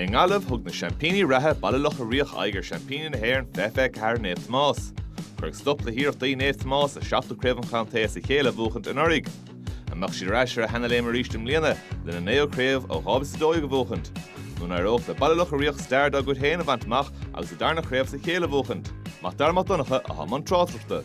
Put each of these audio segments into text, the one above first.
I nGaillimh, thug na seaimpíní reatha Baile Locha Riach aghaidh ar seaimpíní na hÉireann fiche fiche ceathair Naomh Tomás. Cuireadh stop le hiarrachtaí Naomh Tomás a seachtú craobh an chontae as a chéile a bhuachaint anuraidh. An mbeadh siad ar ais ar a seanléim arís i mbliana lena naoú craobh ó 2012 a bhuachaint? Nó an n-éireodh le Baile Locha Riach stair dá gcuid féin a bhaint amach agus a darna craobh as a chéile a bhuachaint? Mac Dara Mac Donncha i mbun tráchtaireachta.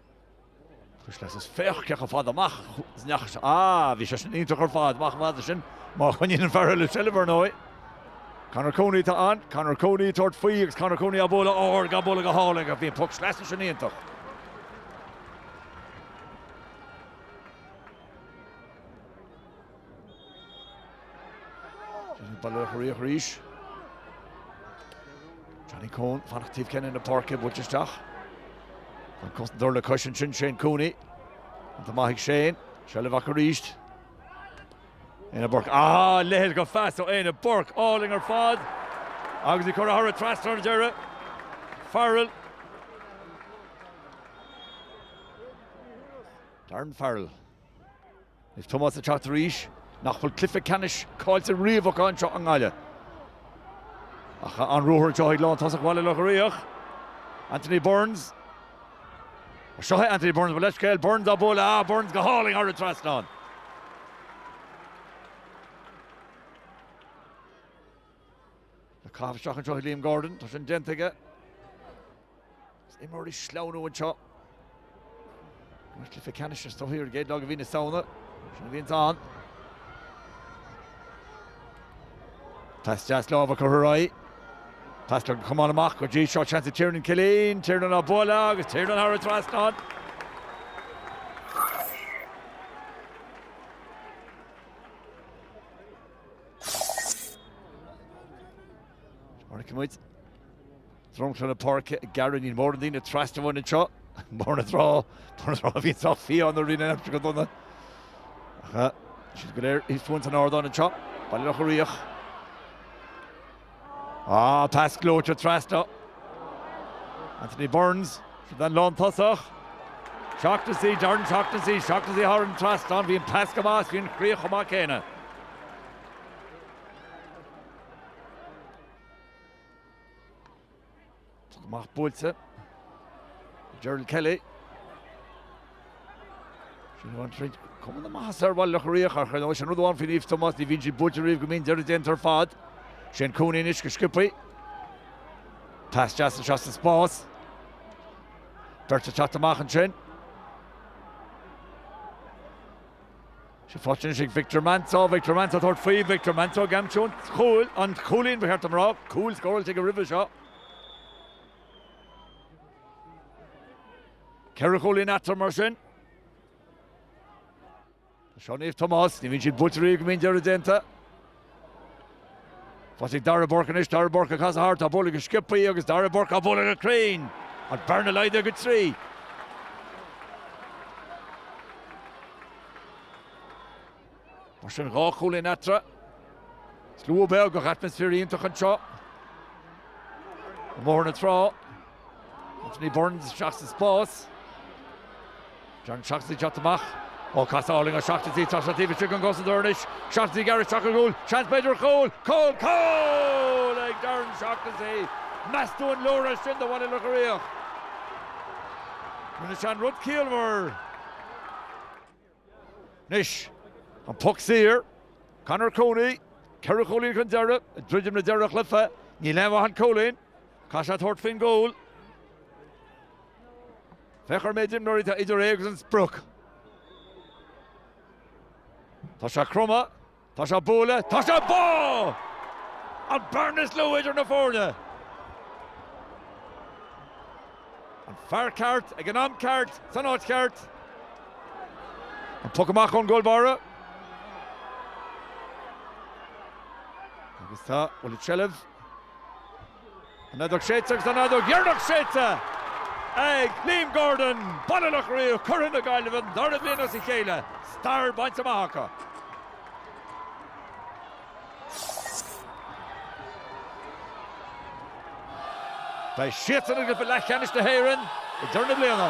Cuisle as féach cé chomh fada amach is a ndeachaigh sé. Á, bhí sé sin iontach ar fad, amach chomh fada sin, má choinníonn an fear eile seilbh, ar ndóigh. Conor Cooney atá ann, Conor Cooney ag tabhairt faoi agus Conor Cooney á bualadh ard, á bualadh go hard aige. Bhí an poc sleasa sin iontach. Baile Locha Riach arís. Johnny Coen fanacht taobh cheann na páirce ag buailt isteach. An cosantóir le cois ansin Shane Cooney. An t-ádh maith ag Shane. Seilbh acu arís. Éanna Burke. Ah! Lig leis go deas ó Éanna Burke. Álainn ar fad. Agus é curtha thar an trasnán ar deireadh. Farrell. Darren Farrell. Is Tomás ag teacht arís nach bhfuil cluiche ceannais caillte riamh acu anseo i nGaillimh. Ach tá an-ruathar anseo ag lántosach Bhaile Locha Riach, Anthony Burns. Seo é Anthony Burns, gabh mo leithscéal, Burns á bualadh, ah, Burns go hálainn thar an trasnán. Le caitheamh isteach anseo ag Liam Gordon, tá sin déanta aige. Is imreoirí ag sleamhnú anseo. Mar cluichí ceannais atá socraithe ar an gcéad lá de mhí na Samhna, sin a bhíonns ann. Pas deas láimhe curtha ar aghaidh. Pas le camán amach go dtí seo, seans ag Tiernan Killeen, Tiernan á bualadh agus Tiernan thar an trasnán. Áiricimid dromchla na páirce, go maith, níl mórán daoine trasna uainn anseo, mar ar ndóigh, tá, bhí sé sách fiáin nuair a bhí an aimsir go dona. Tá siad go léir, thíos fúinn san ardán anseo, Baile Locha Riach. Ah, pas gleoite trasna. Anthony Burns, sin an lántosach. Shaughnessy, Darren Shaughnessy, Shaughnessy thar an trasnán, bhí an pas go maith agus bhí an chríoch chomh maith céanna. Poc amach buailte ag Gerald Kelly. Sin bhain tríd cuma na maitheasa ar Bhaile Locha Riach ach ar ndóigh sin rud amháin faoi Naomh Tomás, ní bhíonn siad buailte riamh go mbíonn deireadh déanta ar fad. Shane Cooney anois go sciobtha. Pas deas anseo sa spás. Beirt ag teacht amach ansin. Sé Fortunes ag Victor Manso, Victor Manso ag tabhairt faoi, Victor Manso ag aimsiú an chúil, an chúilín ba cheart dom a rá, cúl scóráilte aige roimhe seo. Ceithre chúilín eatarthu mar sin. Ach sin Naomh Tomás, ní bhíonn siad buaite riamh go mbíonn deireadh déanta. Pas chuig Darragh Burke anois, Darragh Burke ag casadh thart, á bhualadh go sciopthaí agus Darragh Burke á bhualadh go cruinn agus an bhearna laghdaithe go trí. Mar sin dhá chúilín eatarthu. Slua beag ach atmaisféar iontach anseo i mBóthar na Trá. Anthony Burns isteach sa spás. Darren Shaughnessy ag teacht amach. Ó casadh álainn ó Shaughnessy tá sé taobh istigh den gcosantóir anois. Shaughnessy ag gearradh isteach i gcúl. Seans b'fhéidir ar chúl. Cúl! Cúl ag Darren Shaughnessy! Meas tú an leor é sin do Bhaile Locha Riach? Rinne sé an rud ciallmhar. Anois, an poc saor. Conor Cooney, ceithre chúilín chun deireadh, ag druidim le deireadh an chluiche. Níl aon mhaith an cúilín. Caithfidh sé tabhairt faoin gcúl. Féach ar an méid imreoirí atá idir é agus an sprioc. Tá sé cromtha. Tá sé ag bualadh, tá sé bodhar! An bhearna is lú idir na foirne! An fear ceart ag an am ceart san áit cheart. An poc amach ón gcúl báire. Agus cá bhfuil an tseilbh. An fheadóg séidte agus an fheadóg dheireanach séidte ag Liam Gordon, Baile Locha Riach, Curaidh na Gaillimhe don dara bliain as a chéile, stair bainte amach acu. Beidh siadsan i gcluiche leathcheannais na hÉireann i ndeireadh na bliana.